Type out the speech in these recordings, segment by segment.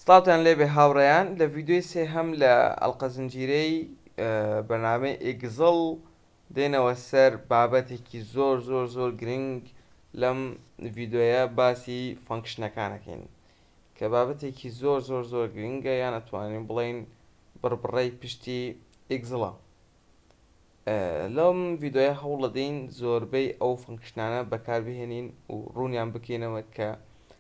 سڵاوتان لێبێ هاوڕێیان لە ڤیدیۆی سێهەم لە ئەڵقە زنجیرەی بەرنامەی ئیگزڵ دێنەوە سەر بابەتێکی زۆر زۆر زۆر گرنگ لەم ڤیدۆیە باسی فەنکشنەکانەکەین کە بابەتێکی زۆر زۆر زۆر گرنگە یان ئەتوانین بڵین بڕبڕەی پشتی ئیگزڵە لەم ڤیدۆیە هەوڵەدەین زۆربەی ئەو فەنکشنانە بەکاربهێنین و ڕوونیان بکەینەوە کە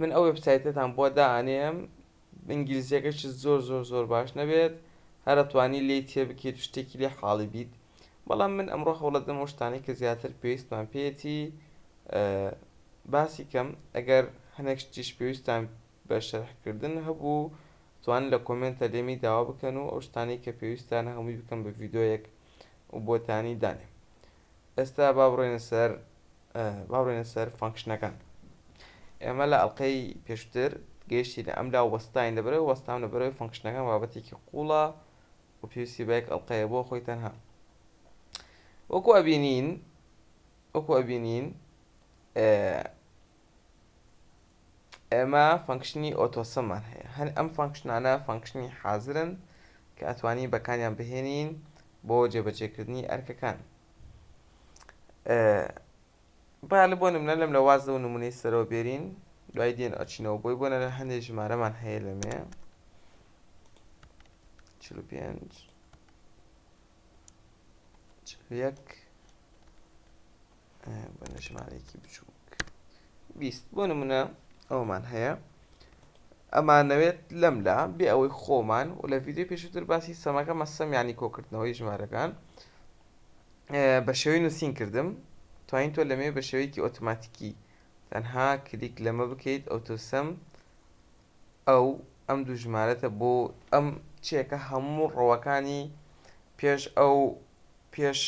من ئەو وێبسایتەتان بۆ دائەنێم ئینگلیزیەکەشت زۆر زۆر زۆر باش نەبێت هەر ئەتوانی لێی تێبکەیت و شتێکی لێ حاڵی بیت بەڵام من ئەمڕۆ هەوڵەدەم ئەو شتانەی کە زیاتر پێویستمان پێیەتی باسی کەم ئەگەر هەنێک شتیش پێویستان بە شەرحکردن هەبوو توان لە کۆمێنتە لێمی داوا بکەن و ئەو شتانەی کە پێویستانە هەمووی بکەم بە ڤیدۆیەک و بۆتانی دانێم ئێستا با بڕۆینە سەر با بڕۆینە سەر فانکشنەکان ئێمە لە ئەڵلقەی پێشتر گەیشتی لە ئەم لا وەستاین لە بەرەوە وەستام لە بەرەوەی فانکشنەکان بابەتێکی قوڵە و پێویستی بەیەک ئەڵلقەیە بۆ خۆی تەنها وەکو ئەبینین وەکو ئەبینین ئێمە فەنکشنی ئۆتۆسەمان هەیە هەر ئەم فەنکشنانە فەنکشنی حازرن کە ئەتوانی بەکاریان بهێنین بۆ جێبەجێکردنی ئەرکەکان با لە بۆ نمونە لەم لە واز لەو نمونەی سەرەوە بێرین دوای دێن ئەچینەوە بۆی بۆنە لە هەندێک ژمارەمان هەیە لەمێ چل و پێنج چل یەک بە نەژمارێکی بچووک بیست بۆ نمونە ئەومان هەیە ئەمانەوێت لەم لا بێ ئەوەی خۆمان و لە ویددیو پێشتر باسی سەماکە مەسەم ینی کۆکردنەوەی ژمارەکان بە شێوەی نووسین کردم توانین تۆ لەمێ بە شێوەیەکی ئۆتوماتیکی تەنها کلیک لەمە بکەیت ئەوتۆسم ئەو ئەم دوو ژمارەتە بۆ ئەم چێکە هەموو ڕەوەکانی پێش ئەو پێش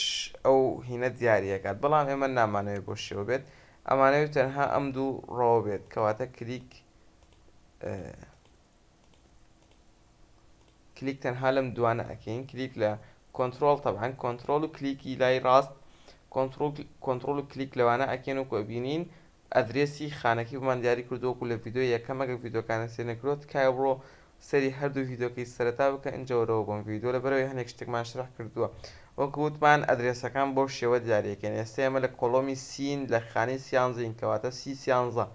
ئەو هینە دیارەکات بەڵام ئێمە نامانەوەی بۆ شێوە بێت ئەمانەوەی تەنها ئەم دوو ڕەوە بێت کەواتە کلیک کلیک تەنها لەم دوانە ئەکەین کلیک لە کۆنتترۆل تەبان کۆنتترۆل و کلیکی لای ڕاست کۆنتترۆل و کلیک لەوانە ئەکەن و کۆبینین ئەدرێسی خانەکەی بۆمان دیاری کردووە وەکو لە ڤیدۆی یەکەم ئەگەر ڤیدۆکانت سەیر نەکردووە تکایە بڕۆ سەیری هەردوو ڤیدۆکەی سەرەتا بکە ئینجا وەرەوە بۆم ڤیدۆ لەبەرئەوەی هەندێک شتێکمان شەرح کردووە وەکو وتمان ئەدرێسەکان بەو شێوە دیاریەکەین ئێستا ئێمە لە کۆڵۆمی سین لە خانەی سیانزەین کەواتە سی سیانزە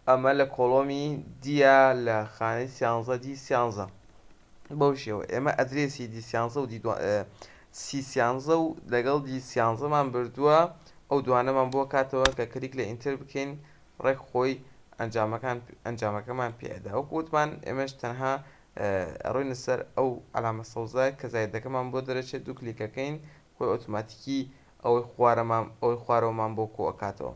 ئەمە لە کۆڵۆمی دیا لە خانەی سیانزە دی سیانزە بەو شێوە ئێمە ئەدرێسی دی سیانزە و دی سی سیانزە و لەگەڵ دی سیانزە مان بردووە ئەو دوانەمان بۆ کاتەوە کە کلیک لە ئینتەر بکەین ڕێک خۆی ئەنجامەکان ئەنجامەکەمان پێ ئەدا وەکو وتمان ئێمەش تەنها ئەڕۆینە سەر ئەو عەلامە سەوزە کە زایدەکەمان بۆ دەرەچێت دوو کلیک ئەکەین خۆی ئۆتۆماتیکی ئەوەی خوارەمان ئەوەی خوارەوەمان بۆ کۆ ئەکاتەوە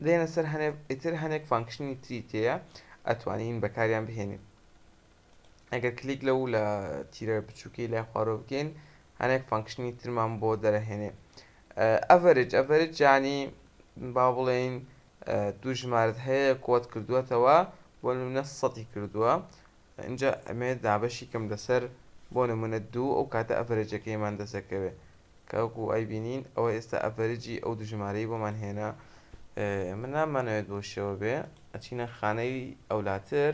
دێنە سەر هەنێ ئیتر هەنێک فانکشنی تری تێیە ئەتوانین بەکاریان بهێنین. ئەگەر کلیک لەو لە تیرە بچووکەی لای خوارەوە بکەین هەنێک فانکشنی ترمان بۆ دەرەهێنێ ئەڤەرج ئەڤەرج جانی با بڵێین دوو ژمارت هەیە کۆت کردووەتەوە بۆ نمونە سەدی کردووە اینجا ئەمێ دابەشی کەم لەسەر بۆ نمونە دوو ئەو کاتە ئەڤەرجەکەیمان دەسەکەوێت کاکو ئای بینین ئەوە ئێستا ئەڤەرجی ئەو دوو ژمارەی بۆمان هێنا من نامانەوێت بۆ شێوە بێ ئەچینە خانەی ئەولاتر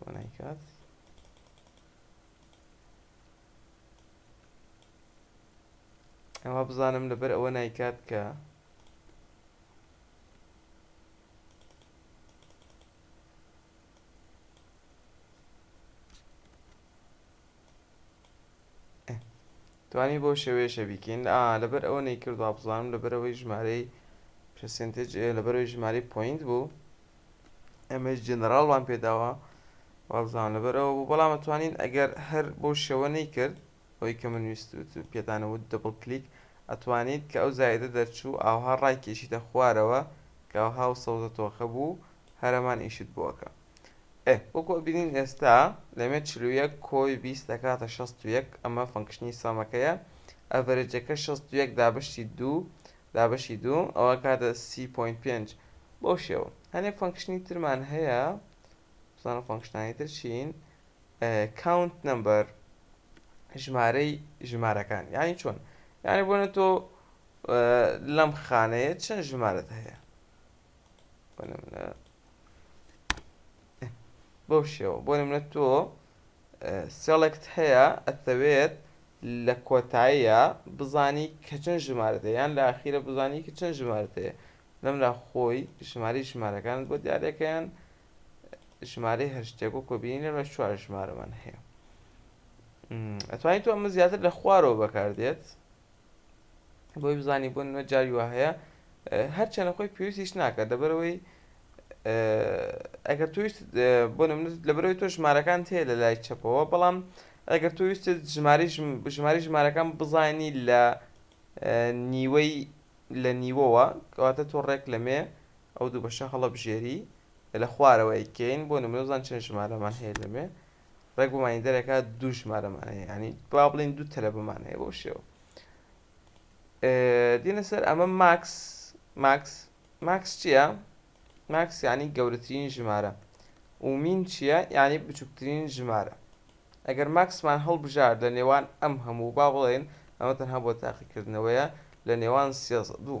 بۆنایکات ئەوە بزانم لەبەر ئەوە نایکات کە توانی بەو شێوەیەشە بیکەین ئا لەبەر ئەوە نەیکرد وابزانم لەبەرەوەی ژمارەی پرسنتج لەبەرەوەی ژمارەی پوینت بوو ئەمەش جەنەراڵمان پێداوە وابزانم لەبەرەوە بوو بەڵام توانین ئەگەر هەر بۆ شێوە نەیکرد ئەوی کە من ویست پێدانەوت دەبڵ کلیک ئەتوانیت کە ئەو زایدە دەرچوو ئاوها ڕای کێشیتە خوارەوە کە ئەوها و سەوزە تۆخە بوو هەرەمان ئیشت بۆ ئەکا. ئێ وەکو ئەبینین ئێستا لەمێ چل و یەک کۆی بیست دەکاتە شەست و یەک ئەمە فەنکشنی سەمەکەیە ئەڤەرێجەکە شەست و یەک دابەشی دوو دابەشی دوو ئەوە کاتە سی پۆین پێنج بەو شێوە هەنێک فەنکشنی ترمان هەیە بزانە فەنکشنانی تر چین کاونت نمبەر ژمارەی ژمارەکان یانی چۆن یانی بۆنە تۆ لەم خانەیە چەند ژمارەت هەیە بەو شێوە بۆ نمونە تۆ سێڵێکت هەیە ئەتەوێت لە کۆتاییە بزانی کە چەند ژمارە دەیان لە ئاخیرە بزانی کە چەند ژمارە دەیە لەمرا خۆی ژماری ژمارەکانت بۆ دیارەکەیان ژمارەی هەشتێک و کۆبیین لە چوار ژمارەمان هەیە ئەتوانی تۆ ئەمە زیاتر لە خوارەوە بەکاردێت بۆی بزانی بۆ نمە جاوی وا هەیە هەرچەنە خۆی پێویستیش ناکە دەبەرەوەی ئەگەر تویست بۆ لەبەرەوەی تۆ ژمارەکان هەیە لە لای چەپەوە بەڵام ئەگەر تویست ژماری ژماری ژمارەکان بزانی لە نیوەی لە نیوەوە کەواتە تۆ ڕێک لەمێ ئەو دوو بەشە هەڵە بژێری لە خوارەوەی کەین بۆ نمرەزان چەند ژمارەمان هەیە لەمێ ڕێک بۆمانی دەرەکە دوو ژمارەمانەیە یعنی با بڵین دوو تەلەبەمان هەیە بۆ شێوە دێنە سەر ئەمە ماکس ماکس ماکس چییە؟ ماکس یعنی گەورەترین ژمارە ومین چییە یعنی بچووکترین ژمارە ئەگەر ماکسمان هەڵبژار لە نێوان ئەم هەموو با بڵێن ئەمە تەنها بۆ تاقیکردنەوەیە لە نێوان سێ دوو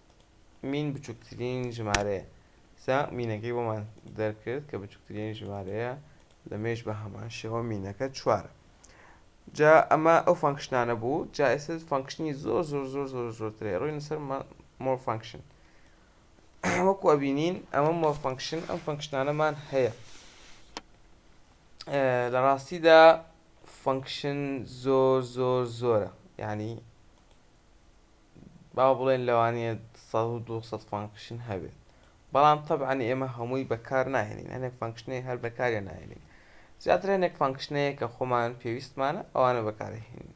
مین بچووکترین ژمارەیە سا مینەکەی بۆمان دەرکرد کە بچووکترین ژمارەیە لە مێژ بە هەمان شێوە مینەکە چوارە جا ئەمە ئەو فانکشنانە بوو جا ئێستا فانکشنی زۆر زۆر زۆر زۆر زۆرترێ ڕووی نووسەر مۆر فانکشن وەکو ئەبینین ئەمە مۆر فانکشن ئەم فانکشنانەمان هەیە لە ڕاستیدا فانکشن زۆر زۆر زۆرە یعنی با بڵێن لەوانەیە سەد و دوو سەد فانکشن هەبێت بەڵام تەبعەن ئێمە هەمووی بەکار ناهێنین هەنێک فانکشنەی هەر بەکاریان ناهێنین زیاتر هەنێک فانکشنەیە کە خۆمان پێویستمانە ئەوانە بەکارهێنین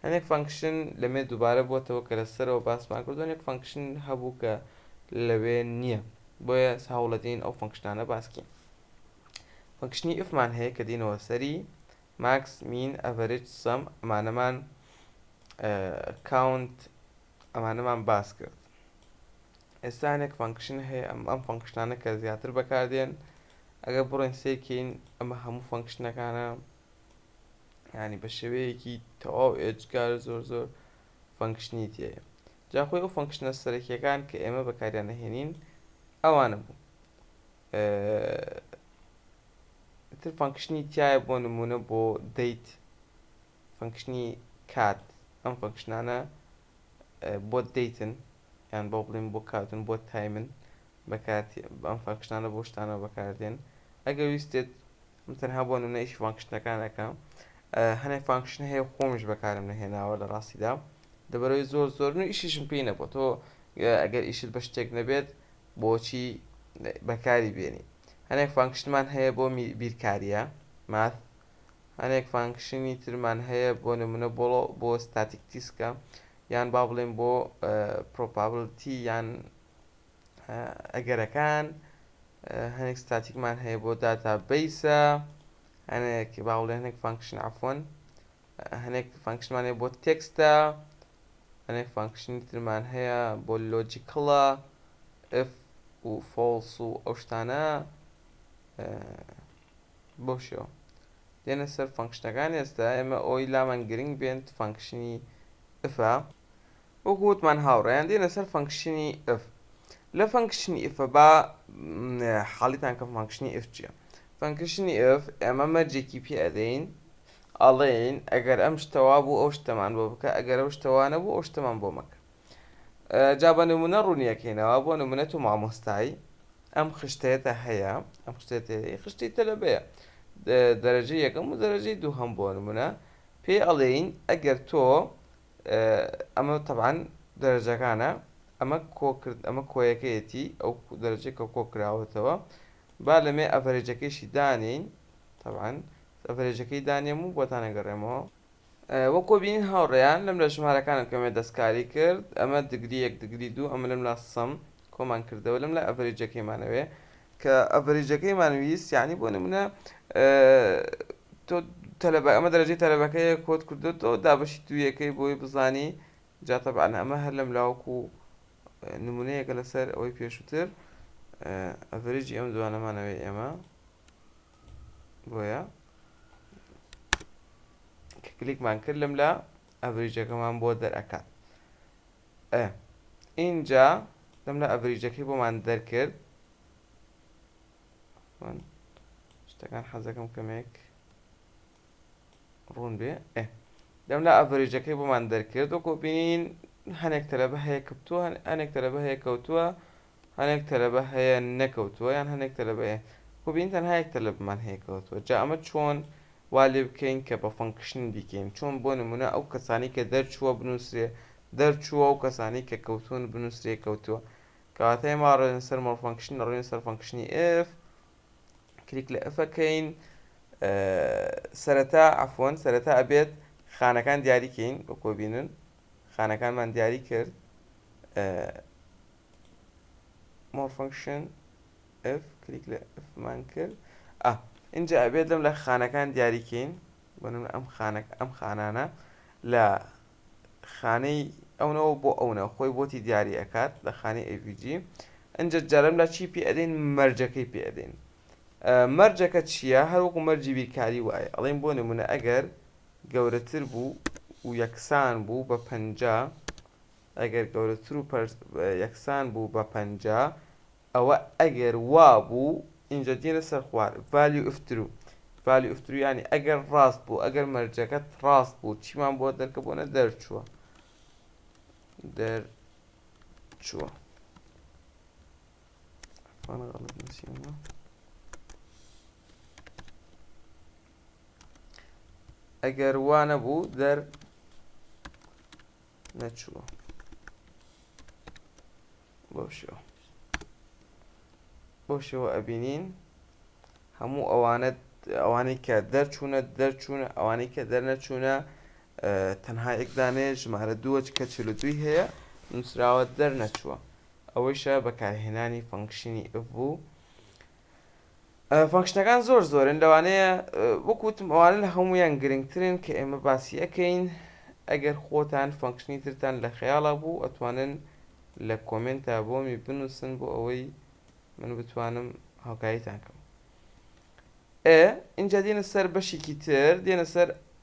هەنێک فانکشن لەمێ دووبارە بۆتەوە کە لەسەرەوە باسمان کردو هەنێک فانکشن هەبوو کە لەوێ نییە بۆیە هەوڵەدەین ئەو فانکشنانە باسکەین فانکشنی ئفمان هەیە کە دینەوە سەری ماکس مین ئەڤەرج سەم ئەمانەمان کاونت ئەمانەمان باس کرد ئێستا هەنێک فەنکشن هەیە ئەم ئەم فەنکشنانە کە زیاتر بەکاردێن ئەگەر بڕێن سێکەین ئەمە هەموو فەنکشنەکانە ینی بە شێوەیەکی تەواو ئێجگار زۆر زۆر فەنکشنی تێە جاخۆی ئەو فەنکشنە سەرەکیەکان کە ئێمە بەکاریانەهێنین ئەوانە بوو تر فەنکشنی تایە بۆ نمونە بۆ دەیت فەنکشنی کات ئەم فەنکشنانە بۆ دەیتن یان بۆ بڵین بۆ کاتون بۆ تایمن بەکات ئەم فەنکشنانە بۆ شتانە بەکاردێن ئەگەر ویستێت من تەنها بۆ نمونە ئیش فانکشنەکانەکە هەنێ فانکشن هەیە خۆمیش بەکارم نەهێناوە لە ڕاستیدا دەبەرەوەی زۆر زۆر و ئیشیشم پێی نەبوو تۆ ئەگەر ئیشت بە شتێک نەبێت بۆچی بەکاری بێنی هەنێک فانکشنمان هەیە بۆ بیرکاریە ماث هەنێک فانکشنی ترمان هەیە بۆ نمونە بۆڵۆ بۆ ستاتیک تیسکە یان با بڵێن بۆ پرۆپابلتی یان ئەگەرەکان هەنێک ستاتیکمان هەیە بۆ داتا بیسە هەنێک باوڵێ هەنێک فانکشن عفۆن هەنێک فانکشنمان هەیە بۆ تێکستە هەنێک فانکشنی ترمان هەیە بۆ لۆجیکڵە ئف و فۆڵس و ئەو شتانە بۆ شێوە دێنە سەر فانکشنەکان ئێستا ئێمە ئەوی لامان گرنگ بێنت فانکشنی ئفا وەگوتمان هاوڕێیان دێنە سەر فانکشنی ئف لە فانکشنی ئفە با حاڵیتان کە فانکشنی ئف چیە فانکشنی ئف ئێمە مەرجێکی پێ ئەدەین ئەڵێین ئەگەر ئەم شتە وابوو ئەو شتەمان بۆ بکە ئەگەر ئەو شتە وا نەبوو ئەو شتەمان بۆ مەکە جا بە نمونە ڕوونیەکەینەوە بۆ نمونە تۆ مامۆستای ئەم خشتەتە هەیە ئەم خشتێتی خشتی تەلەبەیە دەرەجە یەکەم و دەرەجەی دوو هەم بۆ نمونە پێ ئەڵێین ئەگەر تۆ ئەمە تەبان دەرەجەکانە ئەمە کۆکرد ئەمە کۆیەکەیەتی ئەو دەرەجێکە کۆکراوەتەوە با لەمێ ئەڤەرێجەکەیشی دانین تەبان ئەڤرێجەکەی دانێم و بۆتان ئەگەڕێمەوە. وەکو بینین هاوڕێیان لەم لە ژمارەکانم کەمێ دەستکاری کرد ئەمە دگری یەک دگری دوو ئەمە لەم لا سم کۆمان کردەوە لەم لا ئەڤرێجەکەیمانەوێ کە ئەڤرێجەکەیمان ویست یانی بۆ نمونە تۆ تەلەبە ئەمە دەرەجەی تەلەبەکەیە کۆت کردۆتەوە دابەشی دوویەکەی بۆی بزانی جا تەبعەن ئەمە هەر لەم لاوەکو نمونەیەکە لەسەر ئەوەی پێشووتر ئەڤرێجی ئەم دوانەمانەوێ ئێمە. بۆیە کە کلیکمان کرد لەم لا ئەڤریجەکەمان بۆ دەرئەکات ئە ئینجا لەم لە ئەڤریجەکەی بۆمان دەرکرد شتەکان حەزەکەم کەمێک ڕوون بێ ئێ دەم لە ئەڤریجەکەی بۆمان دەرکرد وەکۆ بینین هەنێک تەلەبە هەیە کەوتووە هەنێک تەلەبە هەیە کەوتووە هەنێک تەلەبە هەیە نەکەوتووە یان هەنێک تەلەبەیە خۆبین تەنها یەک تەلەبمان هەیە کەوتووە جا ئەمە چۆن وا لێ بکەین کە بە فەنکشن بیکەین چۆن بۆ نمونە ئەو کەسانی کە دەرچووە بنووسێ دەرچووە و کەسانی کە کەوتون بنووسێ کەوتووە کەواتای ماڕێن سەر مەڵفەنکشن ڕێن سەر فەنکشنی ئف کلیک لە ئف کەین سەرەتا عفوەن سەرەتا ئەبێت خانەکان دیاری کەین وەکۆ بینن خانەکانمان دیاری کرد مۆر فنکشن ئف کلیک لە ئفمان کرد ئە اینجا ئەبێت لەم لە خانەکان دیاری کەین بنم ئەم خانەک ئەم خانانە لە خانەی ئەونەوە بۆ ئەونە خۆی بۆتی دیاری ئەکات لە خانەی avg ئەجا جارم لا چی پێ ئەدەین مەرجەکەی پێ ئەدەین مەرجەکە چییە هەروەکو مەرجی بیرکاری وایە ئەڵین بۆ نمونە ئەگەر گەورەتر بوو و یەکسان بوو بە پەنجا ئەگەر گەورەتر و یەکسان بوو بە پەنجا ئەوە ئەگەر وابوو ئینجا دێنە سەر خوار value if true value if true یانی ئەگەر ڕاست بوو ئەگەر مەرجەکەت ڕاست بوو چیمان بۆ دەرکەبوونە دەرچووە دەرچووە ئەگەر وا نەبوو دەر نەچووە بەو شێوە بەو شێوە ئەبینین هەموو ئەوانەت ئەوانەی کە دەرچوونە دەرچوونە ئەوانەی کە دەرنەچوونە تەنها یەکدانێ ژمارە دووە کە چل دوی هەیە نووسراوە دەرنەچووە ئەوەیشە بەکارهێنانی فەنکشنی ئف بوو فەنکشنەکان زۆر زۆرن لەوانەیە وەک وتم ئەوانە لە هەموویان گرنگترن کە ئێمە باسی ئەکەین ئەگەر خۆتان فەنکشنی ترتان لە خەیاڵا بوو ئەتوانن لە کۆمێنتا بۆمی بنووسن بۆ ئەوەی من بتوانم هاوکاریتان کەم ئێ ئینجا دێنە سەر بەشێکی تر دێنە سەر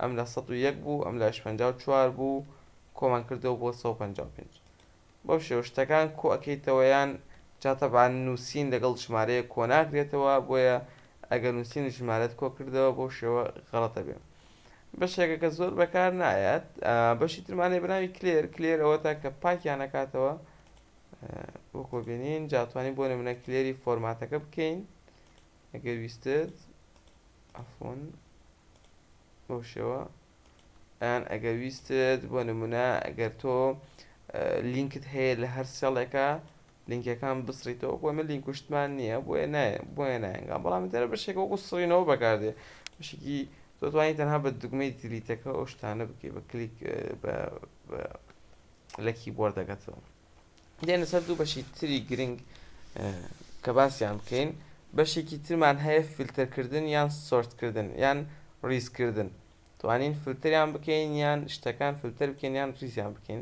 ئەم لە سەد و یەک بوو ئەم لایش پەنجا و چوار بوو کۆمان کردەوە بۆ سەد و پەنجا و پێنج بەو شێوە شتەکان کۆ ئەکەیتەوە یان جا تەبعەن نووسین لەگەڵ ژمارەیەک کۆ ناکرێتەوە بۆیە ئەگەر نووسین و ژمارەت کۆ کردەوە بەو شێوە غەڵەت ئەبێ بەشێکە کە زۆر بەکار نایەت بەشی ترمان هەیە بە ناوی کلێر کلێر ئەوەتا کە پاکیان ئەکاتەوە وەکۆ بینین جا توانین بۆ نموونە کلێری فۆرماتەکە بکەین ئەگەر ویستت ئەفۆن بەو شێوە یان ئەگەر ویستت بۆ نمونە ئەگەر تۆ لینکت هەیە لە هەر سێڵێکە لینکەکان بسڕیتەوە بۆ من لینکوشتمان نییە بۆ بۆیە نایەنگا بەڵام دەرە بەشێک وەکو سڕینەوە بەکاردێ بشکی دەتوانانی تەنها بە دگمەی دیلیتەکە ئەو شتانە بکەی بە کلیک لە کیبۆردەکەتەوە دێنە سەر دوو بەشی تری گرنگ کە باسیان بکەین بەشێکی ترمان هەیە فیلتەرکردن یان سۆرتکردن یان ڕیزکردن توانین فلتریان بکەین یان شتەکان فلتەر بکەین یان ڕیزیان بکەین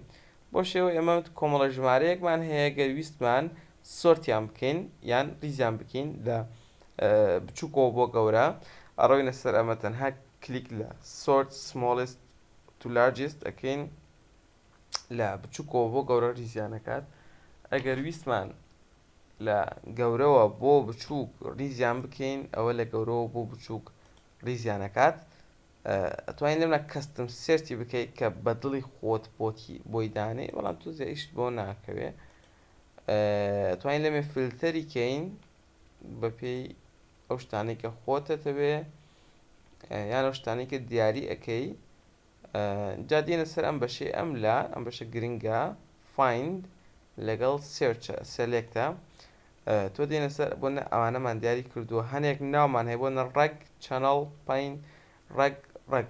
بۆ شێوە ئێمە کۆمەڵە ژمارەیەکمان هەیە گەرویستمان سۆرتیان بکەین یان ڕیزیان بکەین لە بچووکەوە بۆ گەورە ئەڕۆینە سەر ئەمە تەنها کلیک لە سۆرت سمۆڵست تو لارجست ئەەکەین لە بچووکەوە بۆ گەورە ریزیان نەکات ئەگەر ویستمان لە گەورەوە بۆ بچووک ریزیان بکەین ئەوە لە گەورەوە بۆ بچووک ریزیانەکات ئەتوانین لەمە کەستم سێرتی بکەیت کە بە دڵی خۆت بۆتی بۆی دانێ بەڵام تو زیشت بۆ ناکەوێ توانین لەمێ فلتەری کەین بەپێی ئەو شتانێکە خۆتەتەوێ یان ئەو شتانێکە دیاری ئەەکەی جا دێنە سەر ئەم بەشەی ئەم لا ئەم بەشە گرنگە find لەگەڵ search select تۆ دێنە سەر بۆ نە ئەوانەمان دیاری کردووە هەنێک ناومان هەیە بۆ نە ڕەگ چەنەڵ پین ڕەگ ڕەگ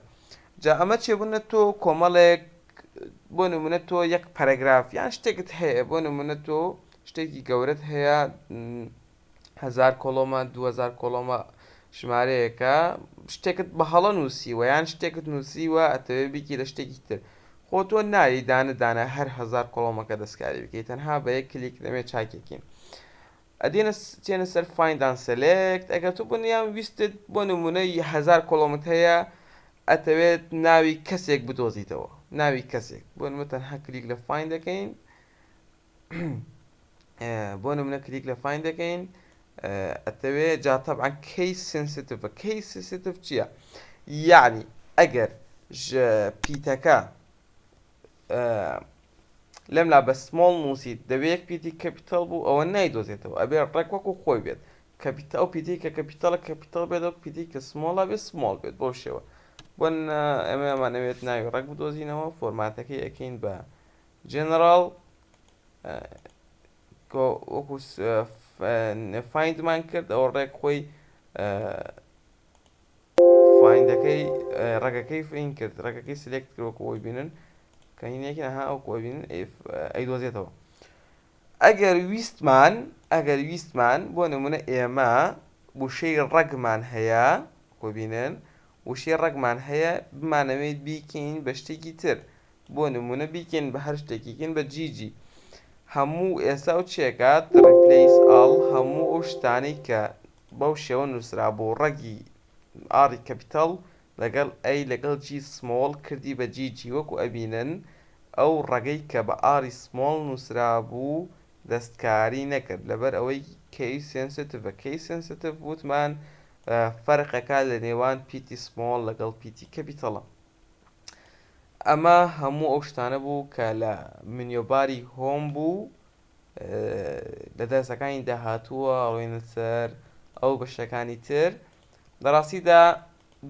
جا ئەمە چێ بوونە تۆ کۆمەڵێک بۆ نمونە تۆ یەک پەرەگراف یان شتێکت هەیە بۆ نمونە تۆ شتێکی گەورەت هەیە هەزار کۆڵۆمە دوو هەزار کۆڵۆمە ژمارەیەکە شتێکت بە هەڵە نووسیوە یان شتێکت نووسیوە ئەتەوێ بیکی لە شتێکی تر خۆ تۆ ناوی دانە دانە هەر هزار کۆڵۆمەکە دەستکاری بکەیت تەنها بە یەک کلیک لەمێ چاکێکین ئەدێنە چێنە سەر فیندان سەلێکت ئەگەر تو بنیان ویستت بۆ نمونەی هزار کۆڵۆمت هەیە ئەتەوێت ناوی کەسێک بدۆزیتەوە ناوی کەسێک بۆ نمە تەنها کلیک لە فین دەکەین بۆ نمونە کلیک لە فین دەکەین ئەتەوێ جا تەبعا کەی سنسیتڤە کەی سنسیتڤ چییە یعنی ئەگەر پیتەکە لەم لا بە سمۆڵ نووسیت دەبێت پیتی کەپیتال بوو ئەوە نایدۆزێتەوە ئەبێ ڕێک وەکو خۆی بێت کەپیت ئەو پیتی کە کەپیتالە کەپیتال بێت ئەو پیتی کە سمۆڵە بێت سمۆڵ بێت بۆ شێوە بۆن ئەمەمانەوێت ناوی ڕێک بدۆزینەوە فۆرماتەکەی ئەەکەین بە جەنەراڵ کە وەکو فایندمان کرد ئەوە ڕێک خۆی فایندەکەی ڕێگەکەی فین کرد ڕێگەکەی سلێکت کرد وەکو ئەوی بینن کە هینێکی نەها وەکو ئەوی بینن ئەیدۆزێتەوە ئەگەر ویستمان ئەگەر ویستمان بۆ نمونە ئێمە وشەی ڕەگمان هەیە کۆبینن وشەی ڕەگمان هەیە بمانەوێیت بیکەین بە شتێکی تر بۆ نمونە بیکەین بە هەر شتێکی کەین بە جیجی هەموو ئێستا و چێکات ڕیپلەیس ئاڵ هەموو ئەو شتانەی کە بەو شێوە نوسرابوو ڕەگی ئاڕی کەپیتەڵ لەگەڵ ئەی لەگەڵ جی سمۆڵ کردی بە جیجی وەکو ئەبینن ئەو ڕەگەی کە بە ئاڕی سمۆڵ نوسرابوو دەستکاری نەکرد لەبەر ئەوەی کەی سێنسێتڤە کەی سێنسێتڤ وتمان فەرقەکە لە نێوان پیتی سمۆڵ لەگەڵ پیتی کەپیتەڵە. ئەمە هەموو ئەو شتانە بوو کە لە منیۆباری هۆم بوو. لە دەرسەکانی داهاتووە ڕۆینە سەر ئەو بەشەکانی تر. لە ڕاستیدا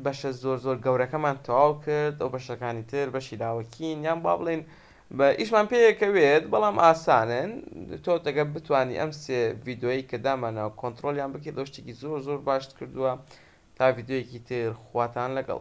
بەشە زۆر زۆر گەورەکەمان تەواو کرد، ئەو بەشەکانی تر بەشی لاوەکین یان با بڵێین بە ئیشمان پێکەوێت بەڵام ئاسانن تۆ تەگەر بتوانی ئەم سێ ڤیدۆیەی کە دامانەوە کۆنتڕۆلیان بکەیت ئەوە شتێکی زۆر زۆر باشت کردووە تا ڤیدۆیەکی تر خواتان لەگەڵ.